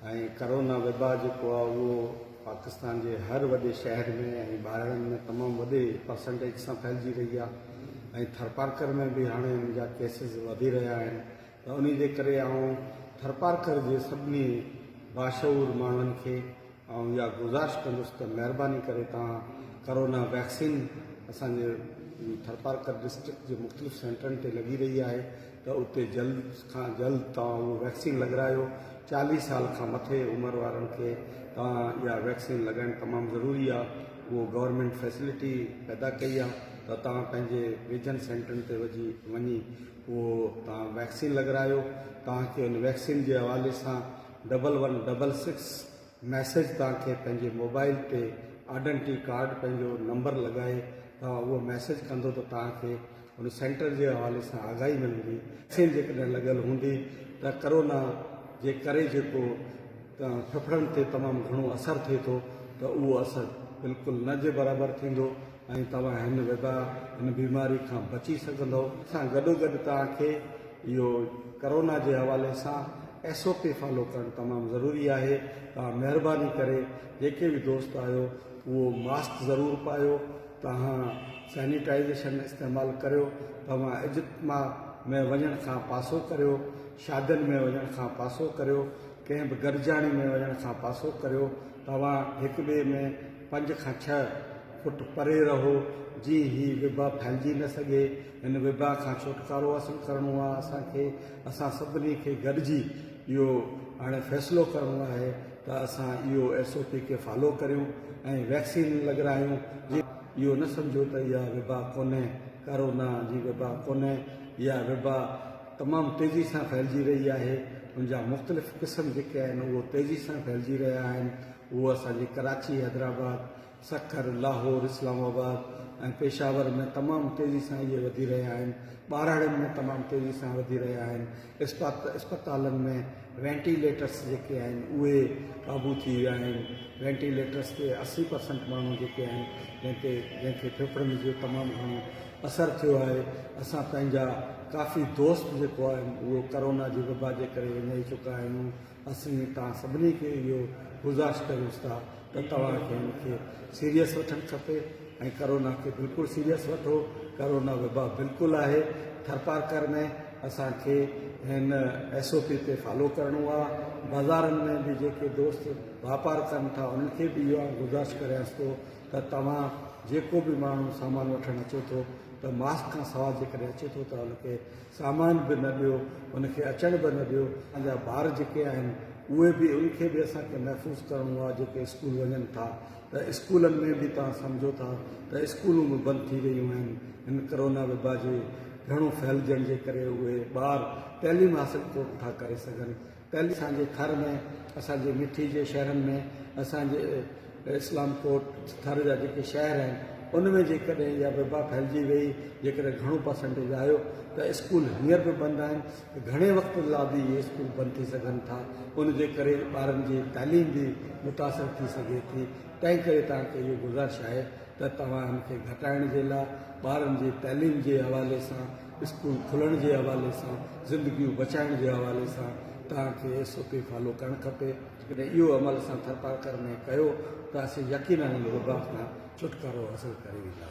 ۽ Corona وبا جيڪو آهي اهو پاڪستان جي هر وڏي شهر ۾ ۽ ٻاهرن ۾ تمام وڏي پرسنٽيج سان ڦهلجي رهي آهي ۽ ٿرپارڪر ۾ به هاڻي ان جا ڪيسز وڌي رهيا آهن ته انهي جي ڪري آئون ٿرپارڪر جي سڀني باشعور ماڻهن کي آئون اها گذارش ڪندس ته مهرباني ڪري توهان ڪرونا ويڪسين اسان جي ٿرپارڪر ڊسٽرڪٽ جي مختلف سينٽرن تي لڳي رهي آهي ته اتي جلد کان جلد توهان اهو ويڪسين لڳرايو، چاليهه سال کان مٿي عمر وارن کي توهان اها ويڪسين لڳائڻ تمام ضروري آهي، اهو گورنمينٽ فيسلٽي پيدا ڪئي آهي ته توهان پنهنجي ويجهن سينٽرن تي وجهي وڃي اهو توهان ويڪسين لڳرايو، توهان کي ان ويڪسين جي حوالي سان double one double six message توهان کي پنهنجي موبائل تي آڊنٽي ڪارڊ پنهنجو نمبر لڳائي توهان اهو ميسيج ڪندو ته توهان کي هن سينٽر جي حوالي سان آگاهي ملندي، ويڪسين جيڪڏهن لڳل هوندي ته ڪرونا جي ڪري جيڪو ڦڦڙن تي تمام گهڻو اثر ٿئي ٿو ته اهو اثر بلڪل نه جي برابر ٿيندو ۽ توهان هن وبا، هن بيماري کان بچي سگهندؤ. ان سان گڏوگڏ توهان کي اهو ڪرونا جي حوالي سان ايس او پي فالو ڪرڻ تمام ضروري آهي. توهان مهرباني ڪري جيڪي به دوست آهيو اهو ماسڪ ضرور پايو. توهان سينيٽائيزيشن استعمال ڪريو، توهان اجتماع ۾ وڃڻ کان پاسو ڪريو، شادين ۾ وڃڻ کان پاسو ڪريو، ڪنهن به گڏجاڻي ۾ وڃڻ کان پاسو ڪريو، توهان هڪ ٻئي ۾ پنج کان ڇهه فوٽ پري رهو جيئن هي وبا ڦهلجي نه سگهي، هن وبا کان ڇوٽڪارو حاصل ڪرڻو آهي اسان کي، اسان سڀني کي گڏجي اهو هاڻي فيصلو ڪرڻو آهي. ته اسان اهو ايس او پي کي فالو ڪريون ۽ ويڪسين لڳرايون جي اهو نه سمجهو ته اها وبا ڪونهي ڪارونا جي وبا ڪونهي اها وبا تمام تيزي سان ڦهلجي رهي آهي ان جا مختلف قسم جيڪي آهن اهو تيزي سان ڦهلجي رهيا آهن اهو اسان جي ڪراچي حيدرآباد سکر، لاهور، اسلام آباد ۽ پيشاور ۾ تمام تيزي سان اهي وڌي رهيا آهن، ٻهراڙين ۾ تمام تيزي سان وڌي رهيا آهن، اسپتالن ۾ وينٽي ليٽرس جيڪي آهن اهي قابو ٿي ويا آهن، وينٽي ليٽرس تي اسي پرسنٽ ماڻهو جيڪي آهن جنهن تي جنهن کي ڦڦڙن جو تمام گهڻو اثر ٿيو آهي، اسان پنهنجا ڪافي دوست جيڪو آهن اهو ڪرونا جي وبا جي ڪري وڃائي چڪا آهيون. اسين توهان سڀني کي اهو گذارش ڪريون ٿا ته توهان کي ان کي سيريس وٺڻ کپي ۽ ڪرونا کي بلڪل سيريس وٺو ڪرونا وبا بلڪل آهي ٿرپارڪر ۾ اسان کي هن ايس او پي تي فالو ڪرڻو آهي بازارن ۾ به جيڪي دوست واپار ڪن ٿا انهن کي به اهو گذارش ڪريانس ٿو ته توهان جيڪو به ماڻهو سامان وٺڻ اچو ٿو ته ماسڪ کان سواء جيڪڏهن اچي ٿو ته ان کي سامان به نه ڏيو، ان کي اچڻ به نه ڏيو، اسان جا ٻار جيڪي آهن اهي به ان کي به اسان کي محفوظ ڪرڻو آهي جيڪي اسڪول وڃن ٿا ته اسڪولن ۾ به توهان سمجهو ٿا ته اسڪولون به بند ٿي ويون آهن هن ڪرونا وبا جي گهڻو ڦهلجڻ جي ڪري اهي ٻار تعليم حاصل ڪو نه ٿا ڪري سگهن ڪل اسان جي ٿر ۾ اسان جي مٺي جي شهرن ۾ اسان جي اسلام ڪوٽ ٿر جا جيڪي شهر آهن ان ۾ جيڪڏهن اها وبا ڦهلجي وئي جيڪڏهن گهڻو پرسنٽيج آيو ته اسڪول هينئر به بند آهن گهڻي وقت لا به اهي اسڪول بند ٿي سگهن ٿا ان جي ڪري ٻارن جي تعليم به متاثر ٿي سگهي ٿي تنهن ڪري توهان کي اهو گذارش آهي ته توهان ان کي گهٽائڻ جي لا ٻارن جي تعليم جي حوالي سان اسڪول کلڻ جي حوالي سان زندگيون بچائڻ جي حوالي سان توهان کي ايس او پي فالو ڪرڻ کپي جيڪڏهن اهو عمل اسان ٿرپارڪر ۾ ڪيو ته اسين يقينن ان وبا کان ڇوٽڪارو حاصل ڪري وينداسين.